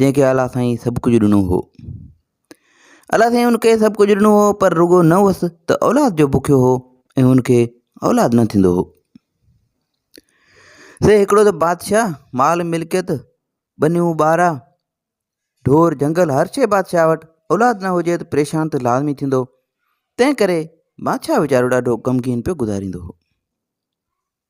جنهن کي الله سائين سڀ ڪجهه ڏنو هو. الله سائين ان کي سڀ ڪجهه ڏنو هو پر رڳو نه هوس ته اولاد جو بکيو هو ۽ ان کي اولاد نه ٿيندو هو. سي هڪڙو ته بادشاهه مال ملڪيت ٻنيون ٻارا ڍور جنگل هر شيء بادشاهه وٽ اولاد نه هجي ته پريشان ته لازمي ٿيندو تنهن ڪري بادشاهه ويچارو ڏاڍو غمگين پيو گذاريندو هو.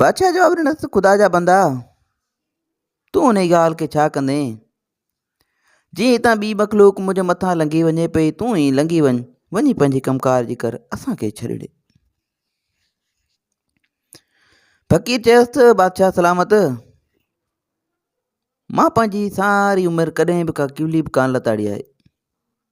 بادشاهه جواب ڏنس ته خدا جا بندا تون انهي ڳالهه کي ڇا ڪندين جي هتان ٻي مخلوق منهنجي مٿان لنگهي وڃي پئي تون ئي لنگهي وڃ وڃي پنهنجي ڪمڪار جي ڪر اسانکي ڇڏي ڏي فقير چيس ته بادشاهه سلامت مان پنهنجي ساري عمر ڪڏهن به ڪا ڪيولي به ڪان لتاڙي آهي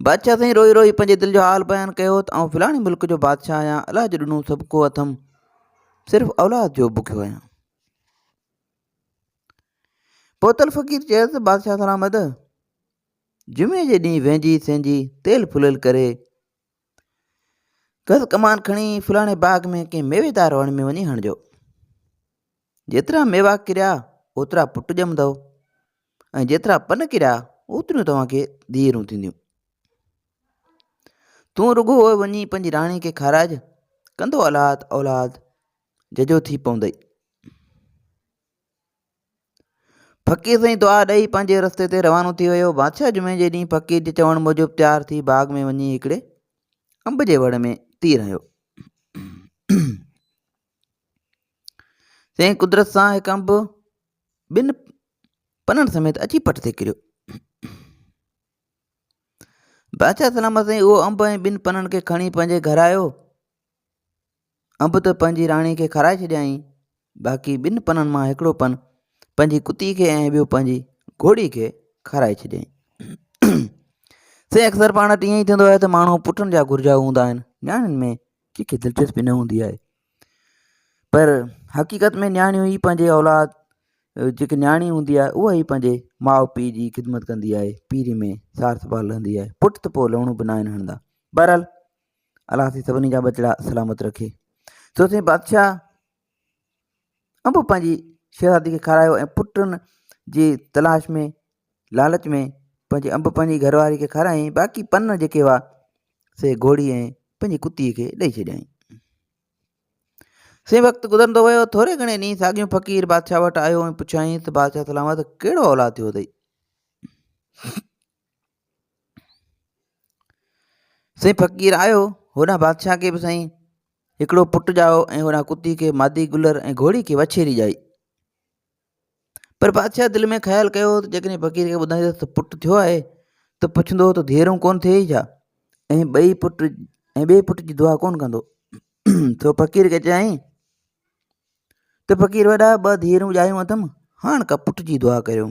بادشاهه سائين روئي روئي پنهنجي دل جو حال بيان ڪيو ته آئون فلاڻي ملڪ جو بادشاهه آهيان الله جو ڏنو سڀ ڪو اٿم صرف اولاد جو بکيو آهيان پوتل فقير چيس بادشاهه سلامت جمعي جي ڏينهن وينجي سينجي تيل ڦليل ڪري ڪس ڪمان کڻي فلاڻي باغ ۾ ڪنهن ميويدار وڻ ۾ وڃي هڻجو جيترا ميوا ڪريا اوترا پٽ ڄمندو ۽ جيترا پن ڪريا اوتريون توهان کي ڌيئرون ٿينديون تون رڳو وڃي پنهنجي راڻي کي کاراج ڪندو اولاد اولاد ججو ٿي پوندئي فقير سائين دعا ڏئي پنهنجي رستي تي روانو ٿي ويو بادشاهه جمعي جي ڏينهن فقير جي چوڻ موجب تيار ٿي باغ ۾ وڃي هڪڙي انب جي وڙ ۾ تير هنيو سائين قدرت سان هڪ انب ٻن پنن سميت اچي پٽ تي ڪريو بادشاهه سلامت سائين اهو انب ۽ ٻن پنن کي کڻي پنهنجي گهر آيو انب ته پنهنجي راڻي کي کارائي ڇڏيائين، باقي ٻن پنن مان هڪڙو پن پنهنجي ڪتي کي ۽ ٻيو پنهنجي گهوڙي کي کارائي ڇڏيائين. سائين اڪثر پاڻ وٽ ائين ئي ٿيندو آهي ته ماڻهو پٽن جا گهرجائو هوندا آهن، نياڻين ۾ ڪنهن کي دلچسپي نه هوندي آهي. پر حقيقت ۾ نياڻيون ئي پنهنجي اولاد جيڪي نياڻي هوندي آهي اها ئي پنهنجي ماء پيء جي خدمت ڪندي آهي، پيري ۾ سار سنڀال رهندي آهي، پٽ ته پوء لوڻو به ناهن هڻندا. بهرحال الله سي سڀني جا ٻچڙا سلامت رکي سو سين بادشاهه انب پنهنجي شهزادي کي کارايو ۽ پٽن جي تلاش ۾ لالچ ۾ پنهنجي انب پنهنجي گهر واري کي کارايائين باقي پن جيڪي هئا سي گهوڙي ۽ پنهنجي ڪتي کي ڏيئي ڇڏيائين سي وقت گذرندو ويو ٿوري گهڻي ڏينهن ساڳيون فقير بادشاهه وٽ آيو ۽ پڇيائين ته بادشاهه سلامت ڪهڙو اولاد ٿيو اٿئي سائين فقير آيو هوڏانهن بادشاهه کي به سائين هڪڙو پٽ ڄائو ۽ هوڏانهن ڪتي کي مادي گلر ۽ گهوڙي کي وڇيري ڄائي پر بادشاهه دل ۾ خيال ڪيو ته جيڪڏهن فقير کي ٻڌائيندس ته پٽ ٿيو آهي ته پڇندو ته ڌيئرون ڪونه ٿئي ڇا ۽ ٻئي پٽ ۽ ٻئي پٽ جي دعا ڪونه ڪندو سو فقير کي چيائين ته فقير وڏا ٻه ڌيئرون ڄايون اٿم هاڻ ڪا پٽ جي دعا ڪريو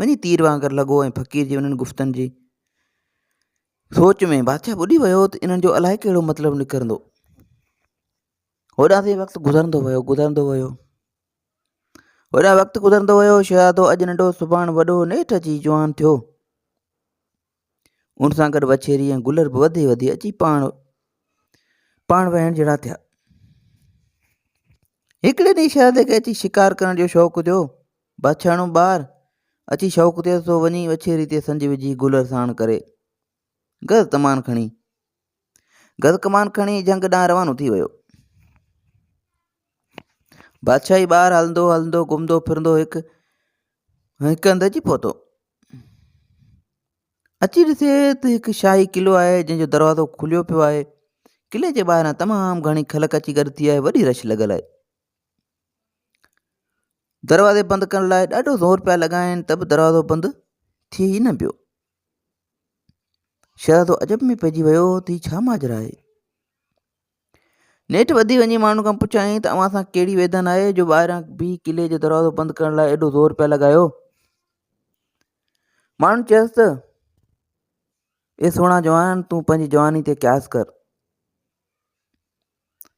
وڃي تير وانگر لڳو ۽ فقير جي انهن گفتن جي سوچ ۾ بادشاهه ٻڏي ويو ته انهن جو الائي ڪهڙو مطلب نڪرندو هوڏا تي وقت گذرندو ويو گذرندو ويو هوڏا وقت گذرندو ويو شهزادو اڄ ننڍو سڀاڻ وڏو نيٺ اچي جوان ٿيو ان سان گڏ وڇيري ۽ گلر به وڌي وڌي اچي پاڻ پاڻ وهڻ جهڙا ٿيا هڪڙي ڏينهن شهد کي اچي شڪار ڪرڻ جو شوق ٿيو بڇاڻو ٻار اچي شوق ٿيو سو وڃي وڇيري تي سنج وجهي گلر ساڻ ڪري گز تمان کڻي گز ڪمان کڻي جهنگ ڏانهن روانو ٿي ويو بادشاهي ٻار هلندو هلندو گهمندو ڦرندو هڪ هڪ هنڌ اچي پهتو اچي ڏسي ته هڪ شاهي قلعو آهي جنهن جو دروازو کليو پيو آهي قلعي جي ٻاهران تمام گهڻي خلق اچي گڏ ٿي آهي وڏي رش لڳل آهي دروازي بند ڪرڻ لاء ڏاڍو زور پيا لڳائن ته به دروازو بند ٿي ئي نه پيو شهزادو عجب ۾ پئجي ويو ته هي ڇا ماجرا آهي نيٺ وڌي وڃي ماڻهن کان پڇيائين ته اوهان سان ڪهڙي ويڌن آهي جو ٻاهران بيهي قلعي جو دروازو بند ڪرڻ لاء ايڏو زور پيا لڳايو؟ ماڻهن چيس ته اي سهڻا جوان تون پنهنجي جواني تي قياس ڪر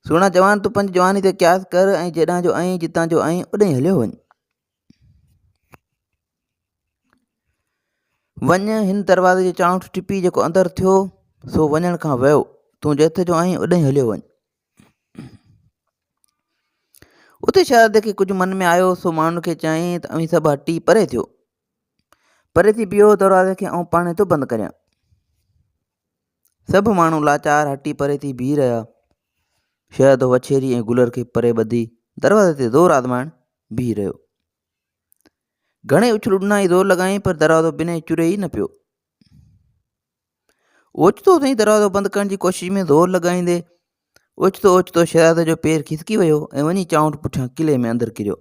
سهڻا جوان تون پنهنجي جواني تي قياس ڪر ۽ جيڏانهن جو آئين جتان جو آئين اوڏانهن هليو وڃ وڃ هن دروازي جي چانئٺ ٽپي جيڪو اندر ٿيو سو وڃڻ کان ويو تون جت جو آهين اڏهين هليو وڃ اتي شهزادي کي ڪجهه من ۾ آيو سو ماڻهن کي چيائين ته اوهين سڀ هٽي پري ٿيو پري ٿي بيهو دروازي کي آئون پاڻ ٿو بند ڪريان سڀ ماڻهو لاچار هٽي پري ٿي بيهي رهيا. شهد، وڇيري ۽ گلر کي پري ٻڌي دروازي تي زور آزمائڻ بيهي رهيو. گهڻي اڇلو ڏنائين زور لڳائين پر دروازو بنهه چري ئي نه پيو. اوچتو سائين دروازو بند ڪرڻ جي ڪوشش ۾ زور لڳائيندي اوچتو اوچتو شهزادي جو پير کسڪي ويو ۽ وڃي چانئٺ پٺيان قلعي ۾ اندر ڪريو.